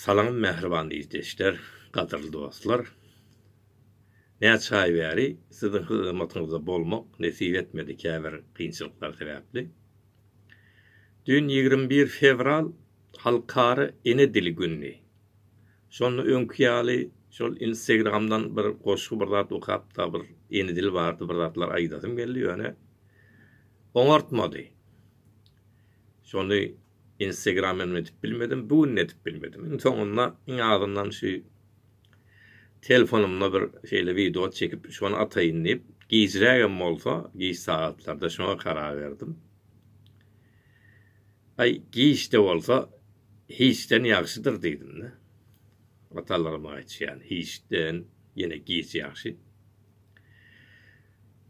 Salam mähriban ildeşler, gadyrly dostlar! Näçe aý bäri siziň hyzmatyňyzda bolmak nesip etmedi käbir kynçylyklar sebäpli. Düýn ýigrimi bir fewral Halkara ene dili günüdi. Şonda öňki ýaly şol Instagramdan bir goşgy bir zat okapda bir ene dili barada bir zatlar aýdasym geldi ýöne oňartmady. Şony Instagram hem edip bilmedim, bu gün edip bilmedim. Iň soňunda iň azyndan şu telefonymda bir şeýle wideo çekip şony ataýyn diýip, gijräk hem bolsa, giç sagatlarda şoňa karar berdim. Aý, giç-de bolsa hiçden ýagşydyr diýdim-de. Atalarym aýtýan, hiçden ýene giç ýagşy.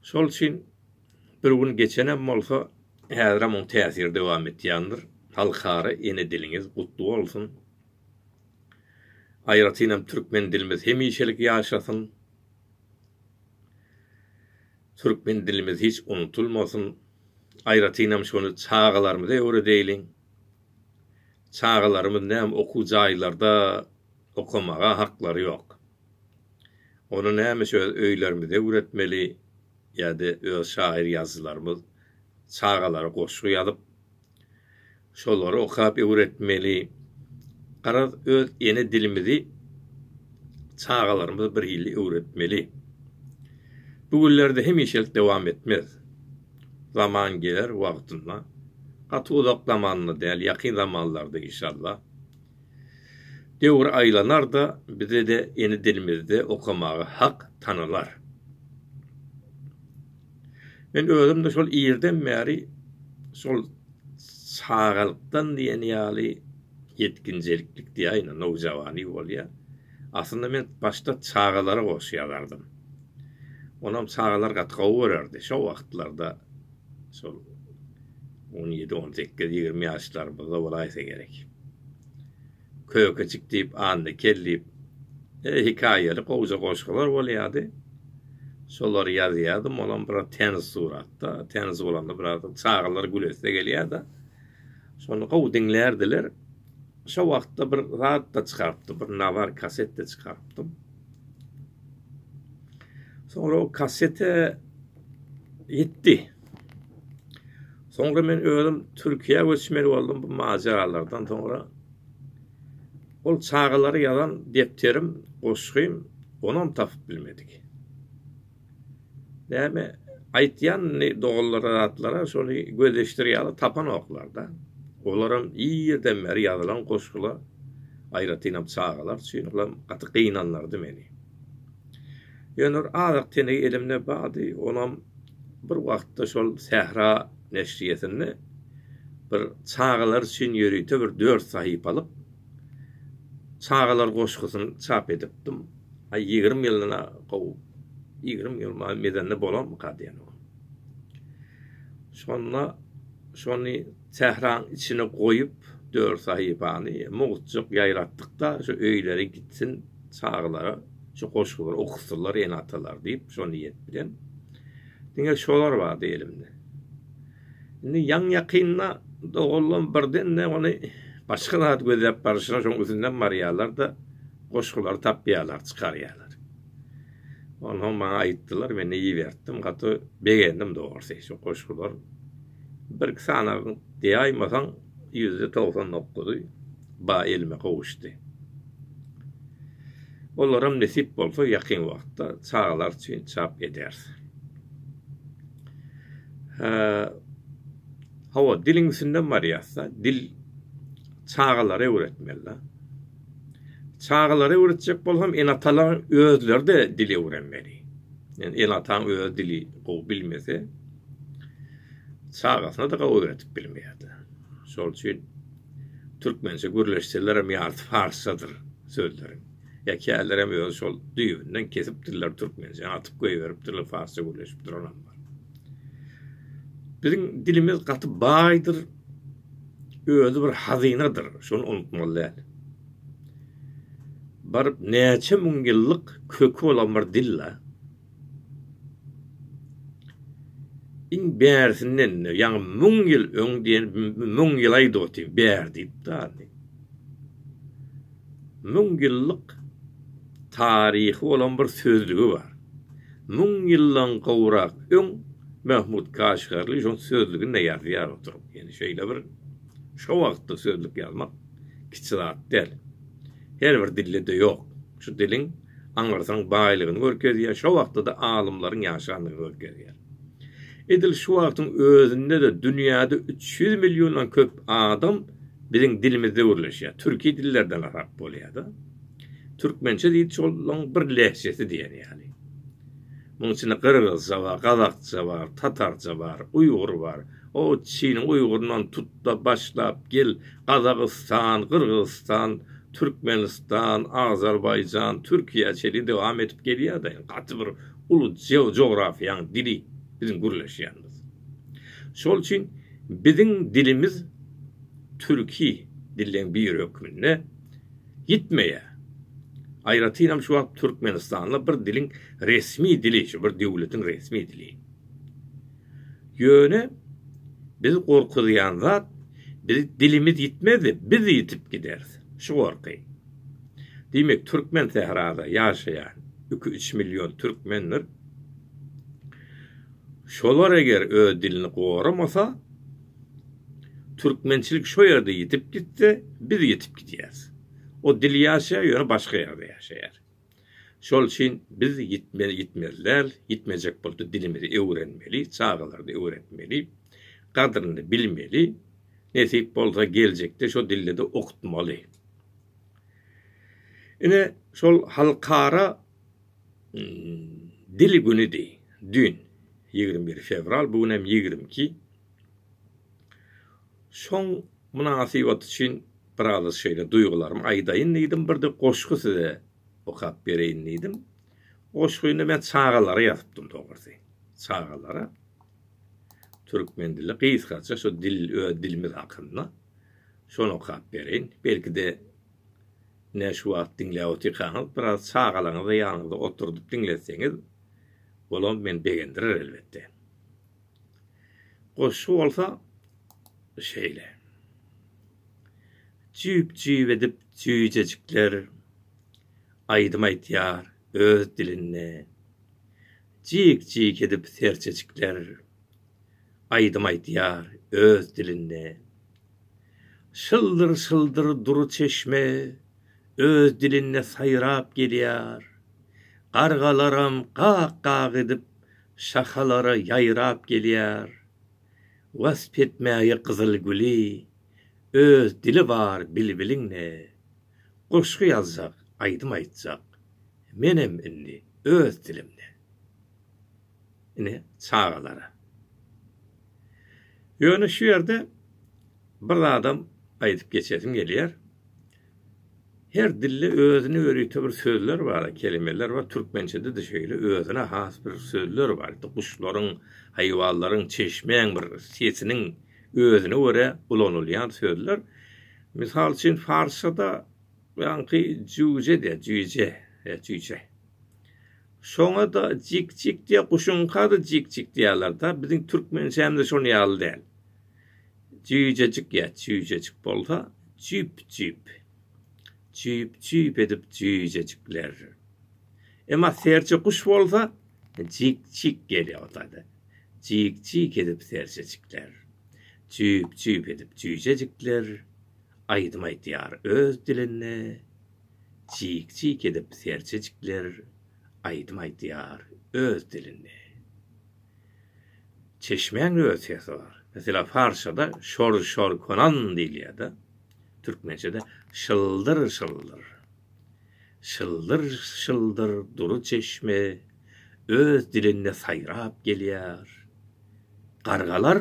Şol üçin Bir gün geçenem bolsa, häzirem oň täsiri dowam etýändir. Halkara ene diliňiz gutly bolsun! Aýratynam türkmen dilimiz hemişelik ýaşasyn! Türkmen dilimiz hiç unutulmasyn! Aýratynam şony çagalarymyza öwredeýliň! Çagalarymyz näme okuw jaýlarda okamaga haklary ýok. Ony nämişe öz öýlerimize öwretmeli ýa-da öz şaýyr ýazyjylarymyz çagalara goşgy ýazyp, şolary okap öwretmeli. Garaz, öz ene dilimizi çagalarymyza bir hili öwretmeli. Bu günlerde hemişelik dowam etmez. Zaman geler wagtynda. Gaty uzak zamanda däl, ýakyn zamanlarda inşallah. Döwür aýlanar-da, bize-de ene dilimizde okamaga hak tanalar. Men özüm-de şol irden bäri şol çagalykdan diýen ýaly ýetginjeliklik diýäýin, nowjawany bolýar. Aslynda men başda çagalara goşgy ýazardym. Onam çagalar gaty gowy görerdi. Şo wagtlarda şol on ýedi, on sekiz, ýigrimi ýaşlarymyzda bolaýsa gerek. Kökeçik diýip, Annakel diýip, e, hikaýaly gowja goşgular bolýardy. Şolary ýazýardym, olam biraz täniş suratda, täniş bolanda biraz çagalar gülesi gelýär-de. Şony gowy diňlärdiler. Şo wagtda bir zat-da çykarypdym, bir nawar kaset-de çykarypdym. Soňra o kassete ýitdi. Soňra men özüm Türkiýä göçmeli boldum bu majaralardan soňra. Ol çagalara ýazan depderim, goşgym onam tapyp bilmedik. Näme aýtýan indi doganlara zatlara şony gözleşdir ýaly tapanoklarda. Olaram irden bäri ýazylan goşgular aýratynam çagalar üçin olam gaty gynanlardy meni. Ýöne bir azyk tenegi elimde bardy onam bir wagtda şol sähra neşriýesinde bir çagalar üçin ýörite bir dört sahypalyk Çagalar goşgusyny çap edipdim. Aý, ýigrimi ýyldan-a gowy. Ýigrimi ýyl maý mezende bolarmyka diýenogam. Şonda şony sähraň içine goýup, dört sahypany mugtjak ýaýratdyk-da, şu öýlere gitsin, çagalara şu goşgulary okusynlar ene-atalar diýip, şo niýet bilen. Diňe şolar bardy elimde. Indi ýaňy-ýakynda doganlarym birden-de ony başga zat gözläp barşyna şoň üstünden barýarlar-da, goşgulary tapýarlar, çykarýarlar. Onsoň maňa aýtdylar, men iberdim, gaty begendim dogrusy. Şu goşgular birki sanagyň diýaýmasaň ýüzde togsan dokuzy ba elime gowuşdy. Olaram nesip bolsa ýakyn wagtda çagalar üçin çap ederis. Hawa, diliň üstünden barýas-da. Dil çagalara öwretmeli-de. Çagalara öwretjek bolsam, ene-atalaryň özleri-de dil öwrenmeli. Ýöne ene-ataň özi dili gowy bilmese, çagasyna-da gowy öwredip bilmeýär-de. Şol üçin türkmençe gürleşselerem ýarysy parsçadyr sözleriň. Ýa kälerem özi şol düýbünden kesipdirler türkmençe atyp goýberipdirler farsça gürleşip duranam bar. Biziň dilimiz gaty baýdyr. Özi bir hazynadyr. Şony unutmaly däl. Baryp näçe müň ýyllyk köki bolan bir dil-la. Iň bärisinden-de, ýaňy müň ýyl öň diýen, müň ýylaý doty, bär diýipdi. Müň ýyllyk taryhy bolan bir sözlügi bar. Müň ýyldan gowrak öň Mahmut Kaşgarly şol sözlüginde ýazýar oturyp. Ýani şeýle bir şo wagtda sözlük ýazmak kiçi zat däl. Her bir dilde-de ýok. Şu diliň aňyrsaň baýlygyny görkezýär, şo wagtda-da alymlaryň ýaşandygyny görkezýär. Edil şu wagtyň özünde-de dünýäde üç ýüz milliondan köp adam biziň dilimizde gürleşýär. Türki dillerden hasap bolýar-da. Türkmençe diýdi şolaň bir lehjesi diýen ýaly. Munuň içinde gyrgyzça bar, gazakça bar, tatarça bar, uýgur bar. O Çiniň uýguryndan tut-da başlap gel, Gazagystan, Gyrgyzystan, Türkmenistan, Azerbaýjan, Türkiýe çenli dowam edip gelýär-de, gaty bir uly jografiýanyň dili biziň gürleşýänimiz. Şol üçin biziň dilimiz türki dilleň biri hökmünde ýitmeýär. Aýratynam şu wagt Türkmenistanda bir diliň resmi dili, şu bir döwletiň resmi dili. Ýöne bizi gorkuzýan zat, biz dilimiz ýitmezdi, biz ýitip gideris. Şu gorky. Diýmek, türkmen sährada ýaşaýan iki-üç million türkmendir. Şolar eger öz dilini goramasa, türkmençilik şo ýerde ýitip gitse, biz ýitip gidýäris. O dil ýaşaýar, ýöne başga ýerde ýaşaýar. Şol üçin biz ýitmeli ýitmeli däl, ýitmejek bolsa dilimizi öwrenmeli, çagalardy öwretmeli, gadryny bilmeli, nesip bolsa geljekde şo dildede okutmaly. Ine şol halkara dil günüdi dün ýigrimi bir fewral bu gün hem ýigrimi iki Şoň mynasybaty üçin biraz şeýle duýgularymy aýdaýyn diýdim, birde goşgy size okap bereýin diýdim. Goşgyny men çagalara ýazypdym dogrusy. Çagalara türkmen dili gysgaça şu dil öz dilimiz hakynda şony okap bereýin. Belki-de ine şu wagt diňläp otyrkaňyz biraz çagalaryňyzy ýanyňyzda oturdyp diňletseňiz bolam meni begendirer elbetde. Goşgy bolsa şeýle. Jüýp-jüýp edip jüýjejikler Aýdym aýtýar öz dilinde. Jik-jik edip serçejikler Aýdym aýtýar öz dilinde. Şyldyr-şyldyr dury çeşme Öz dilinde saýrap gelýär. Gargalaram gak-gak edip Şahalara ýaýrap gelýär Wasp etmäge gyzyl güli Öz dili bar bilbiliň-ne Goşgy ýazjak, aýdym aýtjak Menem indi öz dilimde. Ine, çagalara. Ýöne şu ýerde bir zadam aýdyp geçesim gelýär. Her dilde özüne ýörite bir sözler bar, kelimeler bar. Türkmençede-de şeýle özüne has bir sözler bar. Guşlaryň, haýwanlaryň, çeşmäň bir sesiniň özüne görä ulanylýan sözler. Mysal üçin, parsçada ýaňky jüýje diýýär, jüýje, e, jüýje. Şoňa-da jik-jik diýýär, guşuňka-da jik-jik diýýärler-de. Biziň türkmençämiz-de şonuň ýaly däl. Jüýjejik ýa çüýjejik bolsa, jüp-jüp. Jüp-jüp edip jüýjejikler. Emma serçe guş bolsa, jik-jik gelip otady. Jik-jik edip serçejikler. Jüp-jüp edip jüýjejikler aýdym aýdýar öz dilinde. Jik-jik edip serçejikler aýdym aýdýar öz dilinde. Çeşmäň wersiýasy bar. Meselem, parsçada şor-şor konan diýilýär-de, türkmençede şyldyr-şyldyr. Şyldyr-şyldyr dury çeşme öz dilinde saýrap gelýär. Gargalar,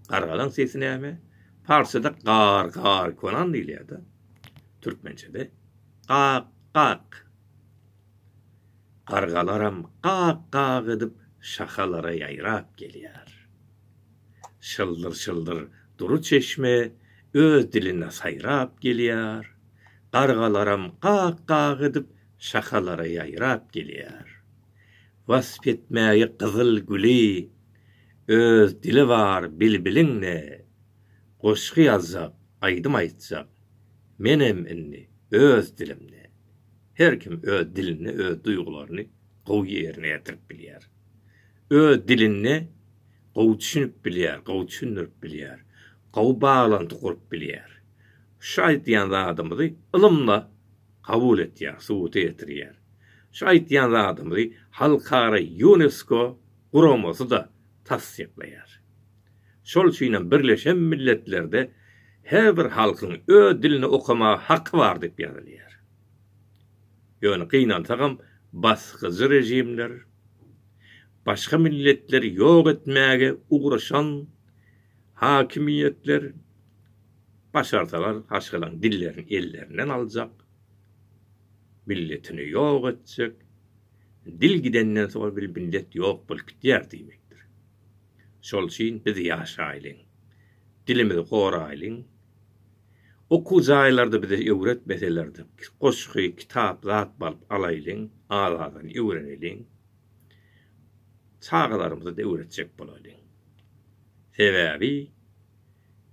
gargalaň sesi näme? Parsçada gar-gar konan diýilýär-de, türkmençede gak-gak. Gargalaram gak-gak edip şahalara ýaýrap gelýär. Şyldyr-şyldyr dury çeşme öz dilinde saýrap gelýär. Gargalaram gak-gak edip şahalara ýaýrap gelýär. Wasp etmäge gyzyl güli öz dili bar bilbiliň-de. Goşgy ýazjak, aýdym aýtjak menem indi öz dilimde. Her kim öz dilinde öz duýgularyny gowy ýerine ýetirip bilýär. Öz dilinde gowy düşünip bilýär, gowy düşündirip bilýär, gowy baglanty gurup bilýär. Şu aýdýan zadymyzy ylymda kabul etýär, subuta ýetirýär. Şu aýdýan zadymyzy halkara Ýunesko guramasy-da tassyklaýar. Şol üçinem Birleşen Milletlerde her bir halkyň öz dilinde okamaga haky bar diýip ýazylýar. Ýöne gynansagam basgyjy režimler, başga milletleri ýok etmäge ugraşan hakimiýetler başarsalar haşgalaň dillerini ellerinden aljak, milletini ýok etjek, dil gidenden soň bir millet ýok bolup gidýär diýmekdir. Şol üçin biz ýaşaýlyň, dilimizi goraýlyň. Okuw jaýlarda bize öwretmeselerdi, goşgy, kitap zat balyp alaýlyň, az-azdan öwreneliň. Çagalarymyza-da öwretjek bolaýlyň. Sebäbi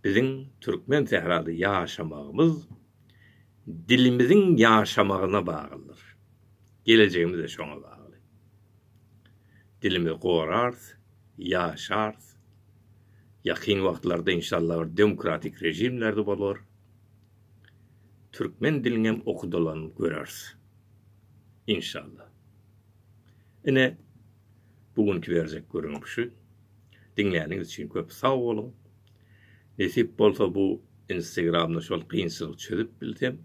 biziň türkmen sährada ýaşamagymyz dilimiziň ýaşamagyna baglydyr. Gelejegimiz-de şoňa bagly. Dilimizi gorarys, ýaşarys. Ýakyn wagtlarda inşallah bir demokratik režimlerde bolar. Türkmen diliňem okudylan göreris. Inşallah. Ine bu günki berjek gürrüňim şu. Diňläniňiz üçin köp sag boluň. Nesip bolsa bu Instagramda şol kynçylygy çözüp bilsem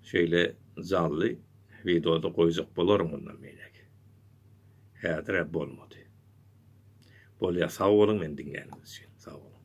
şeýle janly wideoda goýjak bolaryn mundan beýläk. Häzirä bolmady. Bolýa sag boluň meni diňläniňiz üçin sag boluň.